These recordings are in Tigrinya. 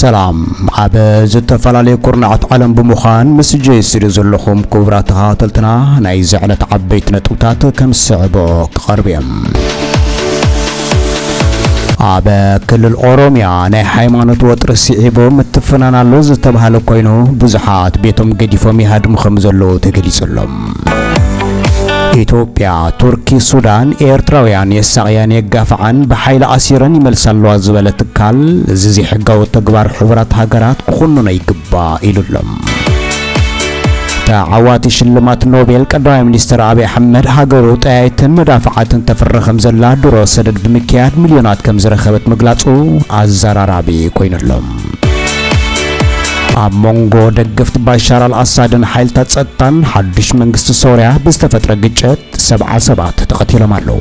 ሰላም ኣብ ዝተፈላለዩ ኩርናዓት ዓለም ብምዃን ምስ ጄስሪ ዘለኹም ክቡራት ተኸታተልትና ናይ ዘዕለት ዓበይቲ ነጥብታት ከም ዝስዕቦ ክቐርብ እዮም ኣብ ክልል ኦሮሚያ ናይ ሃይማኖት ወጥሪ ስዒቡ ምትፍናን ኣሎ ዝተባህለ ኮይኑ ብዙሓት ቤቶም ገዲፎም ይሃድሙ ከም ዘለዉ ተገሊጹሎም። ኢትዮጵያ፣ ቱርኪ፣ ሱዳን ኤርትራውያን የሳቕያን የጋፍዓን ብሓይሊ ኣሲረን ይመልሳ ኣለዋ ዝበለ ትካል እዚ ዘይሕጋዊ ተግባር ሕቡራት ሃገራት ክኹንኖ ይግባእ ኢሉሎም። ተዓዋቲ ሽልማት ኖቤል ቀዳማይ ሚኒስትር ኣብይ ኣሕመድ ሃገሩ ጠያይትን መዳፍዓትን ተፍሪ ከም ዘላ ድሮ ሰደድ ብምክያድ ሚልዮናት ከም ዝረኸበት ምግላጹ ኣዘራራቢ ኮይኑ ኣሎ። ኣብ መንጎ ደገፍቲ ባሻር ኣልኣሳድን ሓይልታት ጸጥታን ሓዱሽ መንግስቲ ሶርያ ብዝተፈጥረ ግጭት ሰብዓ ሰባት ተቐቲሎም ኣለዉ።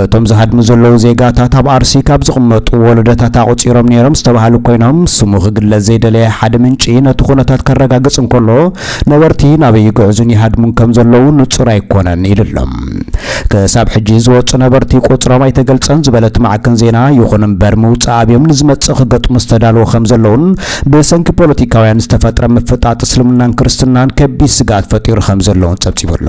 እቶም ዝሃድሙ ዘለዉ ዜጋታት ኣብ ኣርሲ ካብ ዝቕመጡ ወለዶታት ኣቑጺሮም ነይሮም ዝተባሃሉ ኮይኖም፣ ስሙ ክግለጽ ዘይደለየ ሓደ ምንጪ ነቲ ኩነታት ከረጋግጽ እንከሎ፣ ነበርቲ ናበይ ይግዕዙን ይሃድሙን ከም ዘለዉ ንጹር ኣይኮነን ኢሉ ኣሎ። ክሳብ ሕጂ ዝወጹ ነበርቲ ቁጽሮም ኣይተገልጸን ዝበለ እቲ ማዕከን ዜና፣ ይኹን እምበር ምውጻእ ኣብዮም ንዝመጽእ ክገጥሙ ዝተዳለዉ ከም ዘለዉን ብሰንኪ ፖለቲካውያን ዝተፈጥረ ምፍጣጥ እስልምናን ክርስትናን ከቢድ ስግኣት ፈጢሩ ከም ዘለዉን ጸብጺቡ ኣሎ።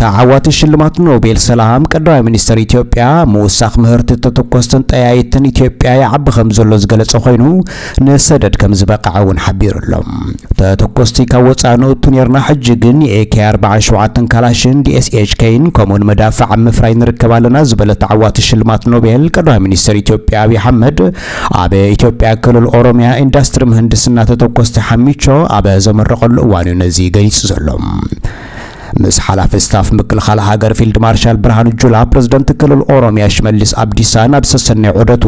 ተዓዋቲ ሽልማት ኖቤል ሰላም ቀዳማይ ሚኒስትር ኢትዮጵያ ምውሳኽ ምህርቲ ተተኮስትን ጠያይትን ኢትዮጵያ ይዓቢ ከም ዘሎ ዝገለጸ ኮይኑ ንሰደድ ከም ዝበቅዐ እውን ሓቢሩ ኣሎ። ተተኮስቲ ካብ ወፃኢ ንእቱ ነርና ሕጂ ግን የኤኬ 47 ካላሽን ዲኤስኤችከይን ከምኡውን መዳፍዕ ኣብ ምፍራይ ንርከብ ኣለና ዝበለ ተዓዋቲ ሽልማት ኖቤል ቀዳማይ ሚኒስትር ኢትዮጵያ ኣብዪ ኣሕመድ ኣብ ኢትዮጵያ ክልል ኦሮሚያ ኢንዳስትሪ ምህንድስና ተተኮስቲ ሓሚቾ ኣብ ዘመረቐሉ እዋን'ዩ ነዚ ገሊጹ ዘሎ። ምስ ሓላፊ ስታፍ ምክልኻል ሃገር ፊልድ ማርሻል ብርሃኑ ጁላ፣ ፕረዚደንት ክልል ኦሮሚያ ሽመልስ ኣብዲሳ ናብ ሰሰንዮ ዑደቱ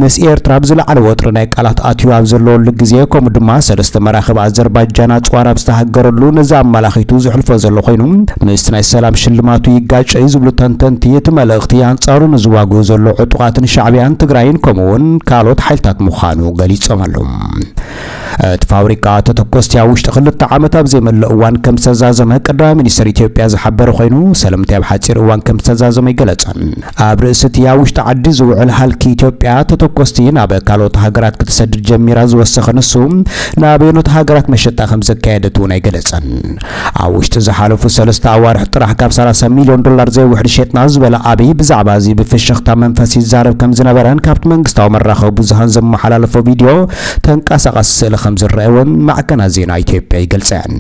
ምስ ኤርትራ ኣብ ዝለዓለ ወጥሪ ናይ ቃላት ኣትዩ ኣብ ዘለወሉ ግዜ ከምኡ ድማ ሰለስተ መራኽብ ኣዘርባጃን ኣጽዋር ኣብ ዝተሃገረሉ ነዚ ኣመላኺቱ ዘሕልፎ ዘሎ ኮይኑ ምስቲ ናይ ሰላም ሽልማቱ ይጋጨ'ዩ ዝብሉ ተንተንቲ እቲ መልእኽቲ ኣንጻሩ ንዝዋግኡ ዘሎ ዕጡቓትን ሻዕብያን ኢትዮጵያን ትግራይን ከምኡውን ካልኦት ሓይልታት ምዃኑ ገሊጾም ኣለዉ። እቲ ፋብሪካ ተተኮስቲ ኣብ ውሽጢ ክልተ ዓመት ኣብ ዘይመለእ እዋን ከም ዝተዛዘመ ቀዳማይ ሚኒስትር ኢትዮጵያ ዝሓበረ ኮይኑ ሰለምቲ ኣብ ሓፂር እዋን ከም ዝተዛዘመ ይገለጸን። ኣብ ርእሲ እቲ ኣብ ውሽጢ ዓዲ ዝውዕል ሃልኪ ኢትዮጵያ ተተኮስቲ ናብ ካልኦት ሃገራት ክትሰድድ ጀሚራ ዝወሰኸ ንሱ ናበየኖት ሃገራት መሸጣ ከም ዘካየደት እውን ኣይገለጸን። ኣብ ውሽጢ ዝሓለፉ ሰለስተ ኣዋርሕ ጥራሕ ካብ ሰላሳ ሚልዮን ዶላር ዘይውሕድ ሸጥና ዝበለ ኣብይ ብዛዕባ እዚ ብፍሽኽታ መንፈስ ይዛረብ ከምዝነበረን ካብቲ መንግስታዊ መራኸቢ ብዙሃን ዘመሓላለፎ ቪድዮ ተንቀሳቓሲ ስእሊ ከምዝረኣይ እውን ማዕከናት ዜና ኢትዮጵያ ይገልፀን።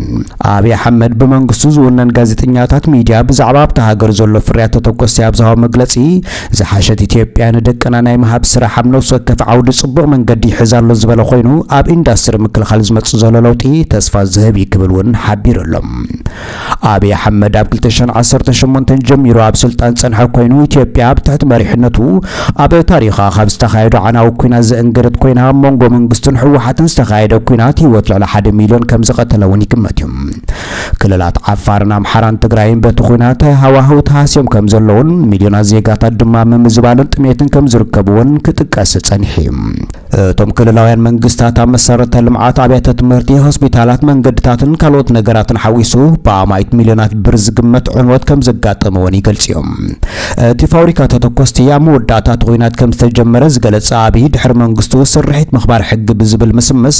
ኣብይ ኣሕመድ ብመንግስቱ ዝውነን ጋዜጠኛታት ሚድያ ብዛዕባ ኣብታ ሃገር ዘሎ ፍርያት ተተኮስቲ ኣብ ዝሃቦ መግለፂ ዝሓሸት ኢትዮጵያ ንደቅና ናይ ምሃብ ስራሕ ኣብ ነፍሲ ወከፍ ዓውዲ ፅቡቕ መንገዲ ይሕዝ ኣሎ ዝበለ ኮይኑ ኣብ ኢንዳስትሪ ምክልኻል ዝመፅእ ዘሎ ለውጢ ተስፋ ዝህብ እዩ ክብል እውን ሓቢሩ ኣሎ። ኣብይ ኣሕመድ ኣብ ክልተ ሽሕን ዓሰርተ ሸሞንተን ጀሚሩ ኣብ ስልጣን ዝፀንሐ ኮይኑ ኢትዮጵያ ኣብ ትሕቲ መሪሕነቱ ኣብ ታሪኻ ካብ ዝተኻየዱ ዓናዊ ኩናት ዘእንገደት ኮይና ኣብ መንጎ መንግስቱን ህወሓትን ዝተኻየደ ኩናት ህይወት ልዕሊ ሓደ ሚሊዮን ከምዝቐተለ እውን ይግመት እዩ። ክልላት ዓፋርን ኣምሓራን ትግራይን በቲ ኹናት ሃዋህው ተሃስዮም ከም ዘለውን ሚልዮናት ዜጋታት ድማ ኣብ ምምዝባልን ጥሜትን ከም ዝርከብዎን ክጥቀስ ጸኒሑ እዩ። እቶም ክልላውያን መንግስታት ኣብ መሰረተ ልምዓት፣ ኣብያተ ትምህርቲ፣ ሆስፒታላት፣ መንገድታትን ካልኦት ነገራትን ሓዊሱ ብኣማኢት ሚልዮናት ብር ዝግመት ዕንወት ከም ዘጋጠመዎን ይገልጹ እዮም። እቲ ፋብሪካ ተተኮስቲ ኣብ መወዳእታ እቲ ኹናት ከም ዝተጀመረ ዝገለጸ ኣብይ ድሕሪ መንግስቱ ስርሒት ምኽባር ሕጊ ብዝብል ምስምስ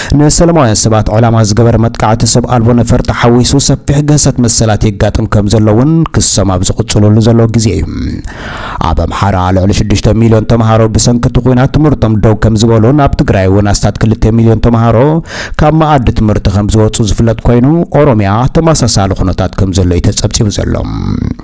ንሰለማውያን ሰባት ዕላማ ዝገበረ መጥቃዕቲ ሰብ ኣልቦ ነፈርቲ ሓዊሱ ሰፊሕ ግህሰት መሰላት የጋጥም ከም ዘሎ እውን ክሶም ኣብ ዝቕፅልሉ ዘለዉ ግዜ እዩ። ኣብ ኣምሓራ ልዕሊ ሽዱሽተ ሚልዮን ተምሃሮ ብሰንኪ እቲ ኲናት ትምህርቶም ደው ከም ዝበሉን ኣብ ትግራይ እውን ኣስታት ክልተ ሚልዮን ተምሃሮ ካብ መኣዲ ትምህርቲ ከም ዝወፁ ዝፍለጥ ኮይኑ ኦሮሚያ ተመሳሳሊ ኩነታት ከም ዘሎ እዩ ተፀብፂቡ ዘሎ።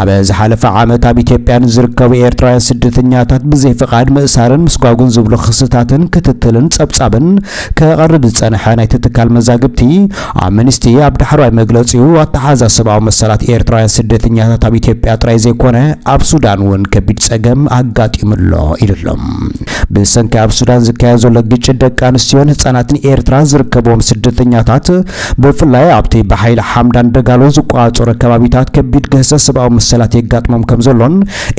ኣብ ዝሓለፈ ዓመት ኣብ ኢትዮጵያ ንዝርከቡ ኤርትራውያን ስደተኛታት ብዘይ ፍቓድ ምእሳርን ምስጓጉን ዝብሉ ክስታትን ክትትልን ጸብጻብን ከቕርብ ዝጸንሐ ናይቲ ትካል መዛግብቲ ኣምንስቲ ኣብ ዳሕረዋይ መግለጺኡ ኣተሓዛ ሰብኣዊ መሰላት ኤርትራውያን ስደተኛታት ኣብ ኢትዮጵያ ጥራይ ዘይኮነ ኣብ ሱዳን እውን ከቢድ ጸገም ኣጋጢሙ ኣሎ ኢሉ ኣሎ። ብሰንኪ ኣብ ሱዳን ዝካየድ ዘሎ ግጭት ደቂ ኣንስትዮን ህጻናትን ኤርትራ ዝርከብዎም ስደተኛታት ብፍላይ ኣብቲ ብሓይሊ ሓምዳን ደጋሎ ዝቆፃፀሮ ከባቢታት ከቢድ ግህሰት ሰብኣዊ መሰላት የጋጥሞም ከምዘሎን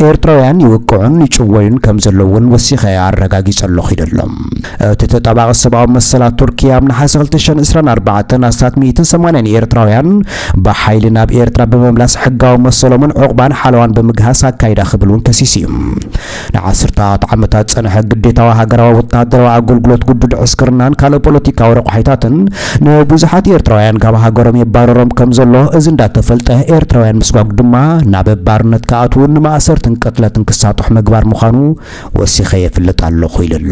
ኤርትራውያን ይውቅዑን ይጭወዩን ከምዘለዉ እውን ወሲኸ ኣረጋጊፀ ኣለኹ ኢሉ ኣሎ። እቲ ተጣባቒ ሰብኣዊ መሰላት ቱርኪ ኣብ ነሓሰ ክልተ ሽሕን ዕስራን ኣርባዕተን ኣስታት ሚእትን ሰማንያን ኤርትራውያን ብሓይሊ ናብ ኤርትራ ብምምላስ ሕጋዊ መሰሎምን ዑቕባን ሓለዋን ብምግሃስ ኣካይዳ ክብል እውን ከሲሱ እዩ። ንዓስርተታት ዓመታት ዝጸንሐ ግዴታዊ ሃገራዊ ወተሃደራዊ ኣገልግሎት ግዱድ ዕስክርናን ካልእ ፖለቲካዊ ረቋሒታትን ንብዙሓት ኤርትራውያን ካብ ሃገሮም የባርሮም ከም ዘሎ እዚ እንዳተፈልጠ ኤርትራውያን ምስጓግ ድማ ናብ ባርነት ክኣትዉን ንማእሰርትን ቅትለትን ክሳጡሕ ምግባር ምዃኑ ወሲኸ የፍልጥ ኣለኹ ኢሉ ኣሎ።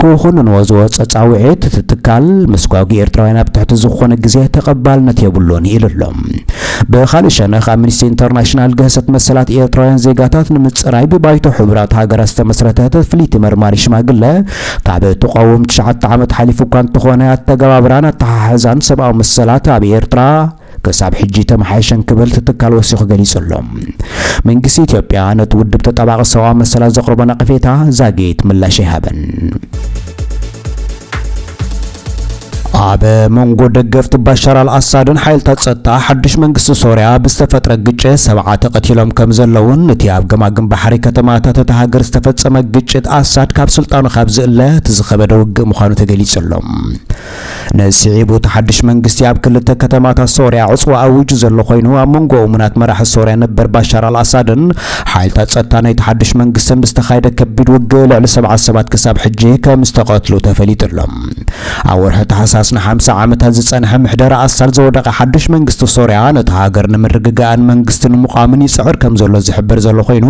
ክኹንንዎ ዝወጾ ጻውዒት፣ እቲ ትካል፣ ምስጓጒ ኤርትራውያን ኣብ ትሕቲ ዝኾነ ግዜ ተቐባልነት የብሉን ኢሉ ኣሎ። ብኻልእ ሸነኽ፣ ኣምኒስቲ ኢንተርናሽናል፣ ግህሰት መሰላት ኤርትራውያን ዜጋታት ንምጽራይ ብባይቶ ሕቡራት ሃገራት ዝተመስረተት ፍልይቲ መርማሪ ሽማግለ ካብ እትቖውም ትሽዓተ ዓመት ሓሊፉ እኳ እንተኾነ፣ ኣተገባብራን ኣተሓሕዛን ሰብኣዊ መሰላት ኣብ ኤርትራ ክሳብ ሕጂ ኣይተመሓየሸን ክብል እቲ ትካል ወሲኹ ገሊጹ ኣሎ። መንግስቲ ኢትዮጵያ ነቲ ውድብ ተጣባቒ ሰብኣዊ መሰላት ዘቕርቦ ነቐፌታ ዛጊት ምላሽ ኣይሃበን። ኣብ መንጎ ደገፍቲ ባሻር ኣልኣሳድን ሓይልታት ጸጥታ ሓድሽ መንግስቲ ሶርያ ብዝተፈጥረ ግጭት ሰብዓ ተቐቲሎም ከም ዘለውን እቲ ኣብ ገማግም ባሕሪ ከተማታት እታ ሃገር ዝተፈጸመ ግጭት ኣሳድ ካብ ስልጣኑ ካብ ዝእለ እቲ ዝኸበደ ውግእ ምዃኑ ተገሊጹ ኣሎ። ነዚ ስዒቡ እቲ ሓድሽ መንግስቲ ኣብ ክልተ ከተማታት ሶርያ ዕጽዋ ኣዊጁ ዘሎ ኮይኑ፣ ኣብ መንጎ እሙናት መራሒ ሶርያ ነበር ባሻር ኣልኣሳድን ሓይልታት ጸጥታ ናይቲ ሓድሽ መንግስትን ብዝተኻየደ ከቢድ ውግእ ልዕሊ ሰብዓ ሰባት ክሳብ ሕጂ ከምዝተቐትሉ ተፈሊጡ ኣሎ። ኣብ ወርሒ ታሕሳስ ንሓምሳ ዓመታት ዝጸንሐ ምሕደራ ኣሳድ ዘወደቐ ሓድሽ መንግስቲ ሶርያ ነታ ሃገር ንምርግጋእን መንግስቲ ንምቛምን ይጽዕር ከምዘሎ ዝሕበር ዘሎ ኮይኑ፣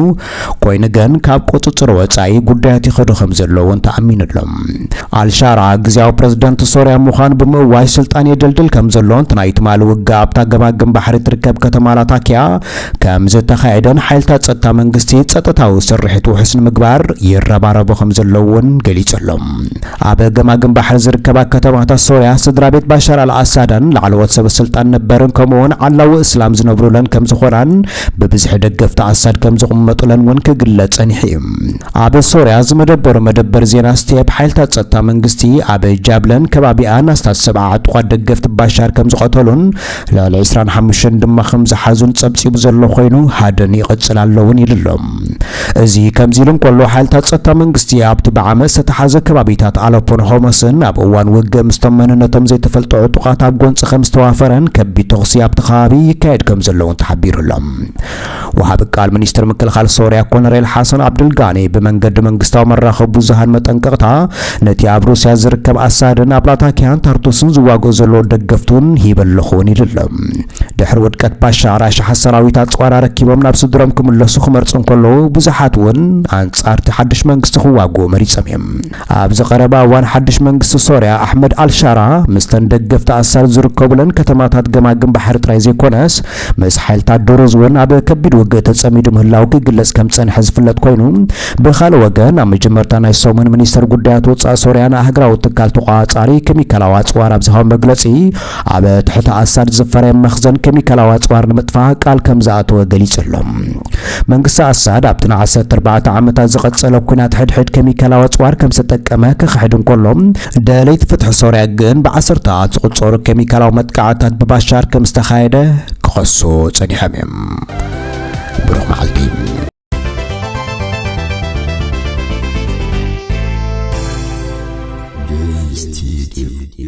ኮይኑ ግን ካብ ቁጽጽር ወጻኢ ጉዳያት ይኸዱ ከም ዘለዉን ተኣሚኑሎም። ኣልሻራ ግዝያዊ ፕረዚደንት ሶርያ ምዃኑ ብምእዋጅ ስልጣን የደልድል ከም ዘሎን እቲ ናይ ትማሊ ውግእ ኣብታ ገማግም ባሕሪ እትርከብ ከተማ ላታኪያ ከም ዝተኻየደን ሓይልታት ጸጥታ መንግስቲ ጸጥታዊ ስርሒት ውሑስ ንምግባር ይረባረቡ ከም ዘለዉ እውን ገሊጹ ኣሎ። ኣብ ገማግም ባሕሪ ዝርከባ ከተማታት ሶርያ ስድራቤት ባሻር ኣል ኣሳዳን ላዕለዎት ሰበስልጣን ነበርን ከምኡ'ውን ዓላዊ እስላም ዝነብሩለን ከም ዝኾናን ብብዝሒ ደገፍቲ ኣሳድ ከም ዝቕመጡለን እውን ክግለጽ ጸኒሑ እዩ። ኣብ ሶርያ ዝመደበሩ መደበር ዜና ስቴፕ፣ ሓይልታት ጸጥታ መንግስቲ ኣብ ጃብለን ከባቢኣን ኣስታት ሰብዓ ዕጡቓት ደገፍቲ ባሻር ከም ዝቐተሉን ልዕሊ ዕስራን ሓሙሽተን ድማ ከም ዝሓዙን ጸብጺቡ ዘሎ ኮይኑ ሃድን ይቕጽል ኣሎ እውን ኢሉ ኣሎ። እዚ ከምዚ ኢሉ እንከሎ፣ ሓይልታት ጸጥታ መንግስቲ ኣብቲ ብዓመጽ ዝተታሕዘ ከባቢታት ኣለፖን ሆመስን ኣብ እዋን ውግእ ምስቶም መንነቶም ዘይተፈልጡ ዕጡቓት ኣብ ጎንጺ ከም ዝተዋፈረን ከቢድ ተኹሲ ኣብቲ ከባቢ ይካየድ ከም ዘለውን ተሓቢሩ ኣሎ። ወሃቢ ቃል ሚኒስትሪ ምክልኻል ሶርያ ኮነሬል ሓሰን ዓብደልጋኒ ብመንገዲ መንግስታዊ መራኸቢ ብዙሃን መጠንቀቕታ ነቲ ኣብ ሩስያ ዝርከብ ኣሳድን ኣብ ላታኪያን ታርቱስን ዝዋግኦ ዘለዎ ደገፍቱን ሂበ ኣለኹ እውን ኢሉ ኣሎ። ድሕሪ ውድቀት ባሻዕ ራሻሓት ሰራዊት ኣጽዋር ኣረኪቦም ናብ ስድሮም ክምለሱ ክመርጹ እንከለዉ ብዙሓት እውን ኣንጻርቲ ሓድሽ መንግስቲ ክዋግኡ መሪጾም እዮም። ኣብዚ ቀረባ እዋን ሓድሽ መንግስቲ ሶርያ ኣሕመድ ኣልሻራ ምስተን ደገፍቲ ኣሳድ ዝርከቡለን ከተማታት ገማግም ባሕሪ ጥራይ ዘይኮነስ ምስ ሓይልታት ድሩዝ እውን ኣብ ከቢድ ውግእ ተጸሚዱ ምህላው ክግለጽ ከም ጸንሐ ዝፍለጥ ኮይኑ ብካልእ ወገን ኣብ መጀመርታ ናይ ሰሙን ሚኒስተር ጉዳያት ወጻኢ ሶርያ ንኣህግራዊ ትካል ተቋጻሪ ኬሚካላዊ ኣጽዋር ኣብ ዝሃቦ መግለጺ ኣብ ትሕቲ ኣሳድ ዝፈረየ መኽዘን ኬሚካላዊ ኣጽዋር ንምጥፋእ ቃል ከም ዝኣተወ ገሊጹ ኣሎ። መንግስቲ ኣሳድ ኣብቲ ንዓሰርተ ኣርባዕተ ዓመታት ዝቐጸለ ኲናት ሕድሕድ ኬሚካላዊ ኣጽዋር ከም ዝተጠቀመ ክኽሕድ እንከሎ፣ ደለይቲ ፍትሒ ሶርያ ግን ብዓሰርተታት ዝቑጸሩ ኬሚካላዊ መጥቃዕትታት ብባሻር ከም ዝተኻየደ ክኸሱ ጸኒሖም እዮም። ብሩኽ መዓልቲ።